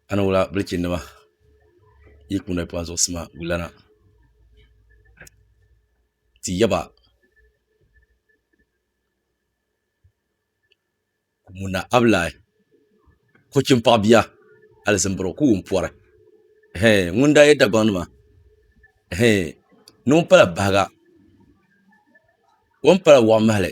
a ni wula bilichini nima yi kuni kpa zuɣusima gulana ti yaba ŋuna abilaayi kochim paɣa bia alizimbirɔ ka o wum pɔri hɛɛ ŋuni daa yɛ Dagbaŋ nima hɛɛ noo pala bahiga o ni pala wɔɣu mahali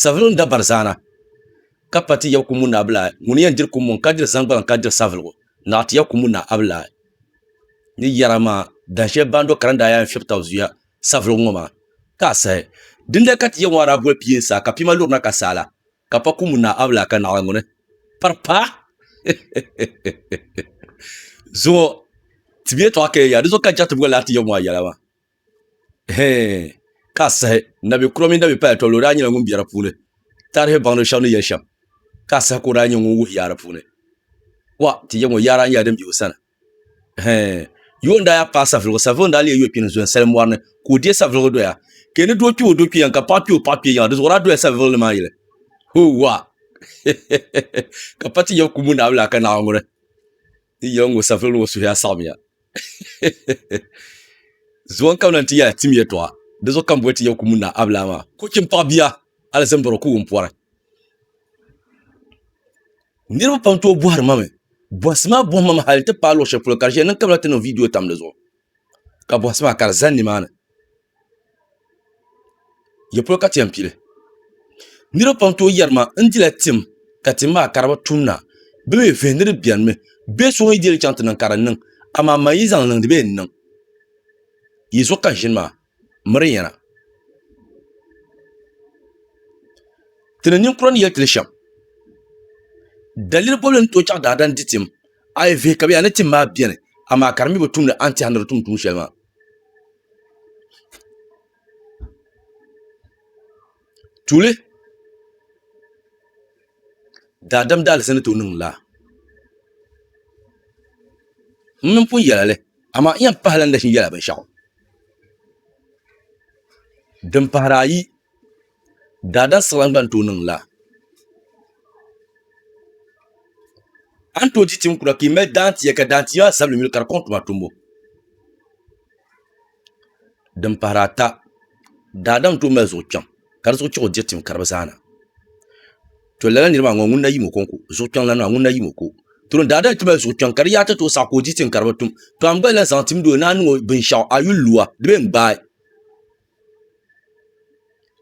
Saviligu n-dabari zaana, ka pa ti Yakumu ni Abilahi ŋuni yɛn diri kummɔŋ ka diri zaŋgbaliŋ ka diri saviligu naɣ ti Yakumu ni Abilahi ni yɛra maa dan shɛli Bando Kara ni daa yɛn fiɛbi taba zuya saviligu ŋɔ maa ka a sahi. Dindali ka ti yɛn ŋɔ a daa boli pia n-saai ka pia maa luri na ka saai la ka pa kumu ni Abilahi ka naɣila ŋuni pari paai zuɣu ti bɛ yɛtɔɣa kaya yaai di zuɣu ka Jatibgu laa ti yɛm ŋɔ a yɛla maa. Hee, ka a sahi, nabi kura mini nabi paya tɔbili o daa nyɛla ŋun bɛ di puuni. Taarihi baŋdiba shɛba ni yɛli shɛm, ka a sahi ka o daa nyɛ ŋun wuhi yaa di puuni. Wa, ti yɛm o yaa daa nyɛla din be o sani. Hee, yoon daa yaa paai safiligu, safiligu daa leei yɔkpini zɔya salim mɔri ni, ka o deei safiligu doya. Ka yi ni doo kpi o doo kpi yiŋa, ka paɣa kpi o paɣa kpi yiŋa, di zuɣu daa dola safiligu ni maa yili. Hoo, wa! Ka pa ti yɛm kumbu Naawuni laa ka Naawuni ŋuni n yɛli ŋɔ, Safiligu ŋɔ suhuya saɣimiya. zuwan kam lan ti ya tim yɛtɔɣa di zuɣu kam boli ti ya kumu na abila maa ko chim paɣa bia alizin bɔrɔ ku wun pɔri niriba pam tooi bɔhiri ma mi bɔhisi maa bɔhima mi hali ti paai luɣ shɛli polo ka di ʒiya niŋ kabila ti niŋ viidiyo tam di zuɣu ka bɔhisi maa ka di zani nimaani Di polo ka ti yɛn pili niriba pam n tooyi yɛri maa n dila tim ka tim maa ka di bi tum naanyi bi mi vihi ni di bɛni mi bee so ŋun yi deli chaŋ ti niŋ ka di niŋ amaa m ma yi zaŋ niŋ di bi yɛn niŋ yi zuɣu ka ʒini maa miri yɛna ti ni ninkura ni yeli ti li shɛm daliri bɔbili ni tooyi chaŋ daadam n di tim a yi vihi ka bɛ yaa ni tim maa bɛni amaa ka di mi bi tum ni a ni tɛha ni di tum tuun shɛli maa. Tuuli daadam daalizani ti o niŋ laa n mini pun yɛla li amaa n yɛn pahi la ni nachin yɛla binshaɣu din pahari ayi Daadaa siɣila n-gba ni tooi niŋ laa. A ni tooi di tim kura ka yi mali daantia ka daantia maa zabili yuli ka di kɔŋ tuma tumbu. Din pahiri ata, daadam ni tooi mali zuɣu kpiɔŋ ka di zuɣu chiɣi o diri tim karibu zaa na. To lala niri maa ŋɔ ŋuni na yim o ko n-ku? Zuɣu kpiɔŋ lana maa ŋuni na yim o ku? To ni daadam ti mali zuɣu kpiɔŋ ka di yaata tooi saɣi ka o di tim karibu tum, to a ni gba lahi zaŋ timdi o ni a niŋ o binshɛɣu a yuli lua di bee n-gbaai?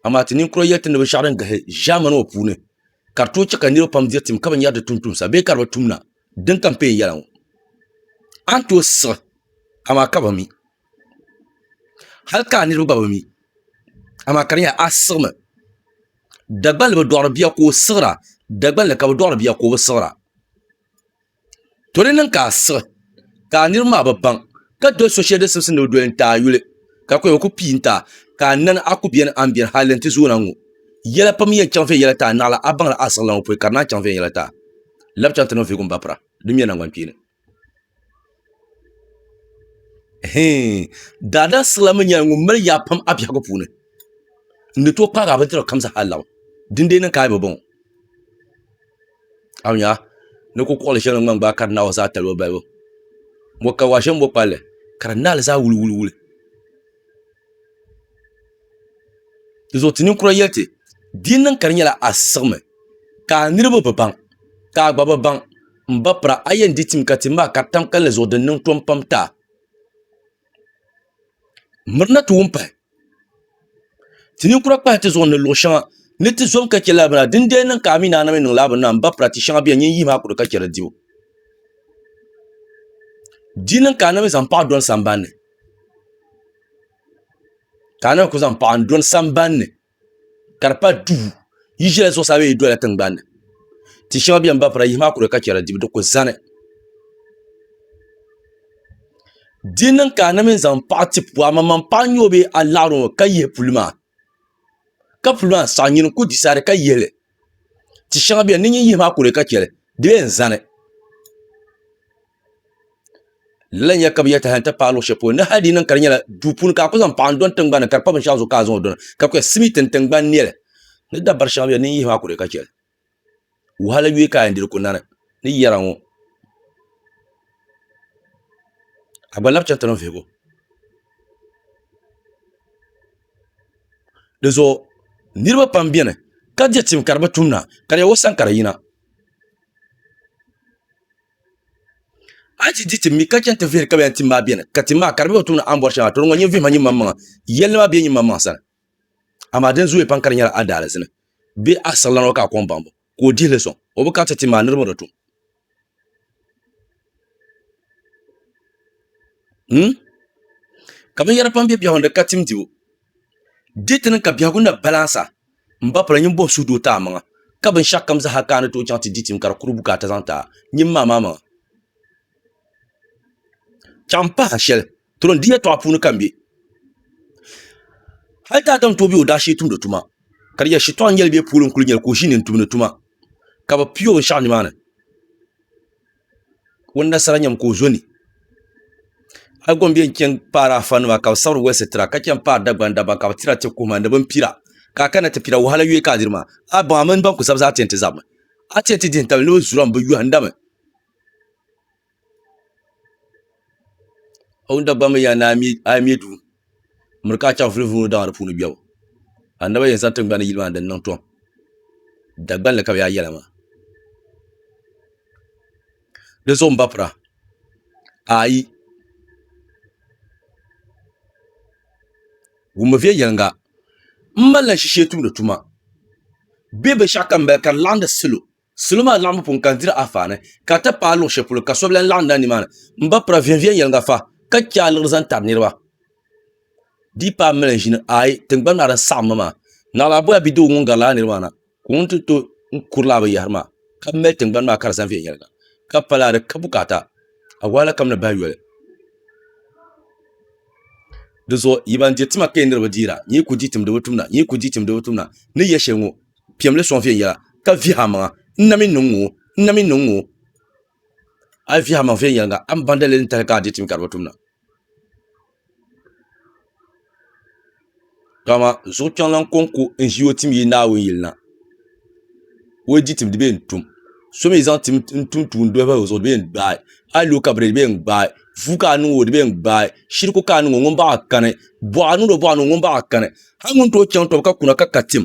amaa ti ninkura yɛltɔɣa ni binshaɣu din galisi ʒaamani ŋɔ puuni ka di tooi chɛ ka niraba pam diri tim ka binyɛra di tumtumsa bee ka di bi tumda din kampeen yɛla ŋɔ a ni tooi siɣi amaa ka bi mi hali ka a niraba gba bi mi amaa ka di nyɛla a siɣimi Dagbanli bi dɔɣiri bia ka o siɣira Dagbanli ka bi dɔɣiri bia ka o bi siɣira To di niŋ ka a siɣi ka a niriba maa bi baŋ ka doli so shɛli din simsi ni o doli n-ti a yuli ka kɔya ku pii n-ti a ka a nani a ku beni a ni beni hal di ni ti zooi na ŋ-ŋɔ. Yɛla pam n-yɛn chaŋ viɛnyɛla n-ti a naɣila a baŋla a siɣila ŋɔ pɔi ka di naan chaŋ viɛnyɛla n-ti a lab chaŋ ti niŋ vihigu m-bapira din mɛ naŋgbankpeeni. Hii! Daadaa siɣila mi nyɛla ŋun mali yaa pam a biɛhigu puuni n-ni tooi kpaagi a bindira kam zaa hal lab dindee niŋ ka a yi bi baŋ o. a ni nya ni kukɔɣili shɛli din gbaai kari naawuni zaa talibu balibu mɔ ka waai shɛli ni bɔ palli ka di naai li zaa wuliwuliwuli di zuɣu ti ninkura yɛli ti di yi niŋ ka di nyɛla a siɣimi ka a niriba bi baŋ ka a gba bi baŋ m ba pira a yɛn di tim ka tim maa kari tam kalinli zuɣu din niŋ tɔm pam n-ti a mirina ti wum pahi ti ninkura kpahi ti zuɣu ni luɣu shɛŋa ni ti zom ka chɛ lala bini na din di yɛn niŋ ka a mii ni a na mii niŋ lala bini na n ba pira tia shɛŋa biɛni nyin yihi maa ku di ka chɛ di dibu di niŋ ka a na mii zaŋ paɣa doli sambanni ka a na mii ku zaŋ paɣa n doli sambanni ka di pali duu yi ʒila zuɣusaa bee yi dola tingbanni tia shɛŋa biɛni ba fura yihi maa kuli ka chɛra di ku zani di niŋ ka a na mii zaŋ paɣa ti puli a maŋmaŋ paɣa n nyɛ o bee a laɣari o mi ka yihi puli maa ka puli maa saɣi nyini n ku disaidi ka yihili tia shɛŋa biɛni di ni yihi maa ku ka chɛli di yɛn zani lala nyɛ ka bi yɛ taha n ti paai luɣu shɛli polo ni hali di niŋ ka di nyɛla duu puuni ka a ku zaŋ paɣa n dɔni tingbani ka di pa binshaɣu zuɣu ka a zaŋ o dɔna ka bi kpɛ simiti n tingbani niɛli ni dabari shɛŋa bɛ ni yihi maa ku di ka chɛli wahala yuya ka a yɛn diri ku nani ni yɛra ŋɔ a gba lahi chɛŋ ti niŋ vihigu dizuɣu niraba pam biɛni ka di tim ka di bi tumda ka di yɛn wo sani ka di yina a yi ti di tim mi ka chɛŋ ti vihiri ka bɛ yɛn tim maa beni, ka tim maa ka di be o tuuni a ni bɔri shɛŋa, tɔro ŋɔ nyin vihima nyinmaŋmaŋa, yɛlli maa be nyinmaŋmaŋ sani, amaa din zooya pam ka di nyɛla a daalizi ni bee a siɣilana ŋɔ ka a kɔŋ baŋbu ka o dihi li sɔŋ, o bi kariti tim maa niriba ni tum. Hum? Ka binyɛra pam be biɛhigu ni ka tim dibu. Diti ni ka biɛhigu na balansa m-ba pala ninvuɣ suhu doo ti a maŋa, ka binshɛɣukam zaa ka a ni tooi chaŋ ti di tim ka di kuri bukaata zaŋ ti a nyin maa maa maŋa. Chaŋ m-pah a shɛli, tron di yɛtɔɣa puuni ka m be. Hal ti Adam tooi be o daashee tumdi tuma, ka di yɛli shitɔɣu n-yɛli bɛ pooli n-kul nyɛ li ka o ʒi ni n-tumdi tuma, ka bɛ pii o binshɛɣu nimaani. ŋun nasara nyɛmi ka o zo ni a yi gɔm bɛn chɛni paari afa nima ka bi sabiri wɛl sitira ka chɛni paari Dagban dabba ka bi tira ti kuhuma ni bin pira ka a kana ti pira wahala yɔi ka a diri maa a baŋ a mini ban kuli sabi zaa tɛnti zabimi a tɛnti dihin tabili ni bi zuri a mi bi yɔhindami a wuni Dagban mi yaa ni a yi mɛ duu miri ka a chaŋ vulivuliŋɔ daŋ a di puuni biɛbu a naba yɛn zaŋ tiŋgbani yili maa ni di niŋ tom Dagban ni ka bɛ yaa yɛla maa di zuɣu m-ba pira ayi wummi viɛnyɛliŋga m malila n shishee tumdi tuma bɛ binshɛɣu ka m mali ka di laɣindi salo Salo maa laɣimbu pun kan diri afaani, ka ti paai luɣ shɛli polo ka so bi lan laɣim na nimaani m-ba pira viɛnyɛviɛnyɛliŋga fa ka chɛ aliɣiri zaŋ tari niriba. Di yi paai malanʒini ayi tiŋgbani maa din saɣim ma maa, Naɣila Aboya bidoo ŋun gari lala niriba maa na ka o ni ti tooi n-kuri lala binyɛhiri maa ka mali tiŋgbani maa ka di zani viɛnyɛliŋga ka pa lala di ka bukaata awɔala kam ni bahi yoli. Dinzuɣu yi ban diri tima ka yɛn niriba deera, nyin yi ku di tim di bi tumda, nyin yi ku di tim di bi tumda ni ya shɛli ŋɔ. piɛmli sɔŋ viɛnyɛla ka vihi a maŋa n na mi niŋ ŋɔ n na mi niŋ ŋɔ a yi vihi a maŋa viɛnyɛliŋga a ni baŋ daliri ni tahili ka a dihi ti mi ka di bi tumda dama zuɣukpɛŋlaŋ kɔŋko n ʒi o tim yi Naawuni yili na o yi dihi tim di bɛ yɛn tum so mi zaŋ tim n tum tuun doli bahi o zuɣu di bɛ yɛn gbaai a yi lo kabiri di bɛ yɛn gbaai vuy ka a niŋ o di bɛ yɛn gbaai shiriku ka a niŋ o ŋuni baa kani bɔɣa niŋ di o bɔɣa ni o ŋuni baa kani hali ŋuni tooi chaŋ tɔbu ka kuna ka ka tim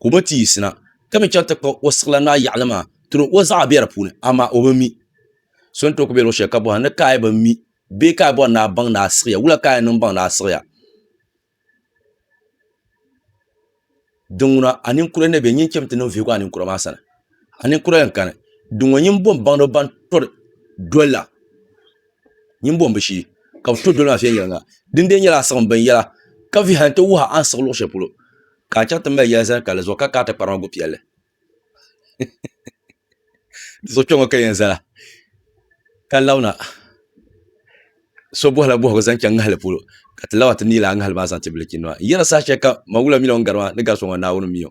ka o bi ti yiɣisina ka mi chaŋ ti kpuɣi o siɣila naa yaɣili maa tiri o zaɣa be di puuni amaa o bi mi so ni too kuli be luɣu sheli ka bohira ni ka a yi bi mi bee ka a bori ni a baŋ ni a siɣiya wula ka a yen niŋ baŋ ni a siɣiya dinŋuna a ninkura ni be nyin chem ti niŋ vihigu a ninkura maa sani a ninkura yen kani dinŋɔ nyin bom baŋda ban tɔri dolila nyin bom bi shee ka bɛ to doli maa viɛnyela dindee nyela a siɣim binyela ka vihi a ni ti wuhi a ni siɣi luɣu sheli polo. Ka a chaŋ ti mali yɛli zali kali zuɣu ka kaai ti kpari ma bu piɛlli. Di zuɣu kpɛŋɔ ka yɛn zala ka labina so bɔhila bɔhigu zaŋ chaŋ ŋahili polo ka ti laba ti neei lala ŋahili maa zaŋ ti bilichi nima n yɛra saha shɛli kam Mawula mila o ni gari maa ni gari so ŋɔ Naawuni mi o.